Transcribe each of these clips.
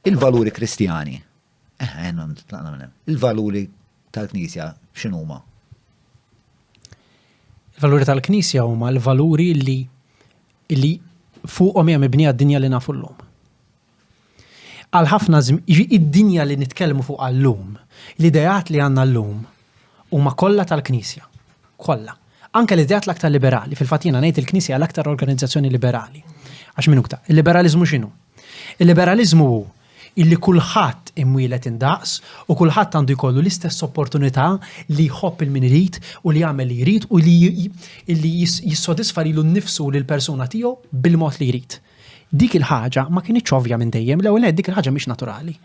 Il-valuri Kristjani, eħe, tlaqna minn hemm. Il-valuri tal-Knisja x'inhuma? Il-valuri tal-Knisja huma l-valuri li li fuqhom hija mibnija d-dinja li nafu llum. Għal ħafna id-dinja li nitkellmu fuq llum, l-ideat li għandna llum huma kollha tal-Knisja. Kollha. Anke l-ideat l-aktar liberali, fil-fatt jiena ngħid il-Knisja hija l-aktar organizzazzjoni liberali. Għax min uktar, il-liberaliżmu x'inhu? Il-liberaliżmu hu illi kulħadd imwielet indaqs u kulħadd għandu jkollu l-istess opportunità li jħobb il-min irid u li jagħmel li jrid u li illi jissodisfa lilu nnifsu u lill-persuna tiegħu bil-mod li jrid. Dik il-ħaġa ma kinitx ovvja minn dejjem, l-ewwel nett dik il-ħaġa mhix naturali.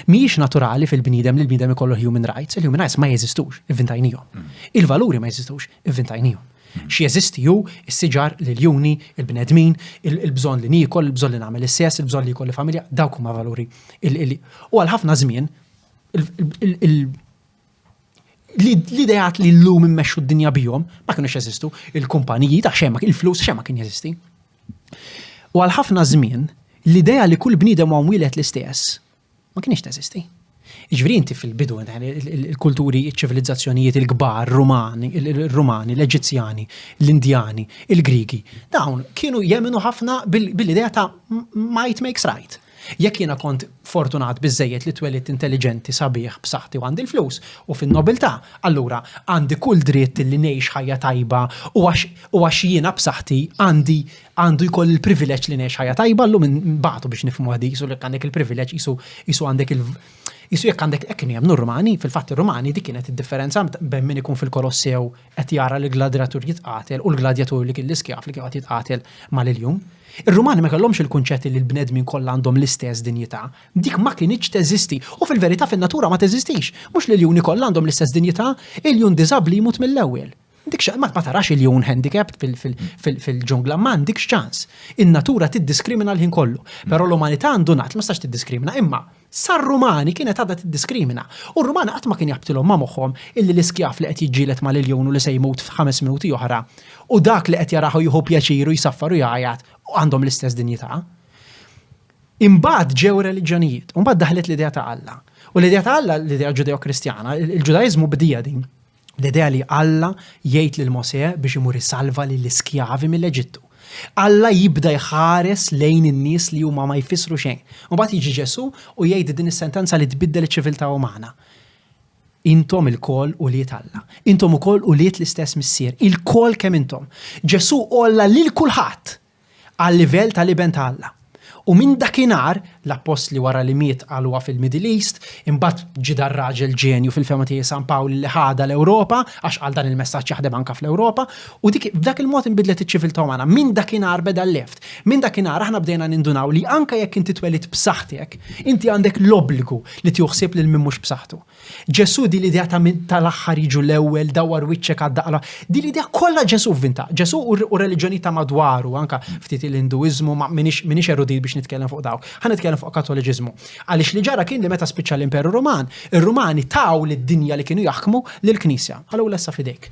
Mhijiex naturali fil-bniedem li l-bniedem ikollu human rights, il-human rights ma jeżistux, ivvintajnihom. Il-valuri ma jeżistux, ivvintajnihom. X'jeżisti hu s-siġar, l-iljuni, il-bnedmin, il-bżonn li niekol, il-bżonn li nagħmel is-sess, il-bżonn li jkolli familja, dawk huma valuri. U għal ħafna żmien L-ideat li l-lum immexxu d-dinja bihom ma kienux jeżistu, il-kumpaniji ta' xema, il-flus xema kien jeżisti. U għal ħafna żmien, l-idea li kull bniedem huwa mwieled l-istess ma kienx teżisti. Ġifieri inti fil-bidu il-kulturi, iċ-ċivilizzazzjonijiet il-kbar, Rumani, il-Rumani, l-Eġizzjani, l-Indjani, il-Grigi, dawn kienu jemminu ħafna bil-idea ta' might makes right. Jekk jiena kont fortunat biżżejjed li twelidt intelliġenti, sabiħ, b'saħħti u għandi l-flus u fin-nobiltà, allura għandi kull dritt li ngħix ħajja tajba u għax u għax jiena b'saħħti għandi għandu jkolli l-privileġġ li ngħix ħajja tajba, llum inbagħtu biex nifhmuha di, qisu jekk għandek il-privileġġ qisu qisu għandek il Qisu jekk għandek hekk kien jemmnu r-Rumani, fil-fatt ir-Rumani dik kienet id-differenza bejn min ikun fil-Kolossew qed jara li gladratur jitqatel u l-gladjatur li kien l-iskjav li kien qed jitqatel mal-iljun. Ir-Rumani ma kellhomx il-kunċett li l-bnedmin kollha għandhom l-istess dinjità. Dik ma kinitx teżisti u fil-verità fin-natura ma teżistix. Mhux l-iljuni kollha għandhom l-istess dinjità, iljun diżabbli jmut mill-ewwel. Ma tarax iljun handicapped fil-ġungla, ma għandikx ċans. In-natura tiddiskrimina l-ħin kollu. Però l-umanità għandu ngħad li ma tistax tiddiskrimina, imma sar-Rumani kienet għadha tiddiskrimina, u r-Rumani qatt ma kien jaqbtilhom ma' moħħhom illi l-iskjav li qed jiġġieled ma' l-iljun u li se jmut f'ħames minuti oħra, u dak li qed jarah u jieħu pjaċir u jsaffar u jgħajjat, għandhom l-istess dinjità. Imbagħad ġew ir-reliġjonijiet, u mbagħad daħlet l-idea ta' Alla. U l-idea ta' Alla, l-idea Ġudeo-Kristjana, il-Ġudaiżmu bdieha din. L-idea li Alla jgħid lil Mosè biex imur isalva lill-iskjavi mill-Eġittu. Alla jibda jħares lejn in-nies li huma ma jfissru xejn. Mbagħad jiġi Ġesù u jgħid din is-sentenza li tbiddel iċ-ċiviltà umana. Intom il-kol u liet Alla. Intom ukoll u liet l-istess missier. Il-kol kemm intom. Ġesù olla lil kulħadd għal-livell tal-Iben ta' Alla. U minn dakinhar, l-Appostli wara li miet qaluha fil-Middle East, imbagħad ġie dar-raġel ġenju fil-fehma tiegħi San Pawl li ħadha l-Ewropa, għax qal dan il-messaġġ jaħdem anke fl-Ewropa, u dik b'dak il-mod inbidlet iċ-ċiviltà umana. Minn dakinhar beda l-left. Minn dakinhar aħna bdejna nindunaw li anke jekk inti twelidt b'saħħtek, inti għandek l-obbligu li tieħu ħsieb lil min mhux b'saħħtu. Ġesù din l-idea ta' min tal-aħħar jiġu l-ewwel, dawwar wiċċek għad-daqra, din l-idea kollha Ġesù vvinta. Ġesù u r-reliġjonijiet ta' madwaru, anke ftit il-Induiżmu, ma m'iniex erudit biex nitkellem fuq dawk. Ħa nitkellem fuq Kattoliċiżmu. Għaliex li ġara kien li meta spiċċa l-Imperu Ruman, ir-Rumani taw lid-dinja li kienu jaħkmu lill-Knisja. Qalu ula issa f'idejk.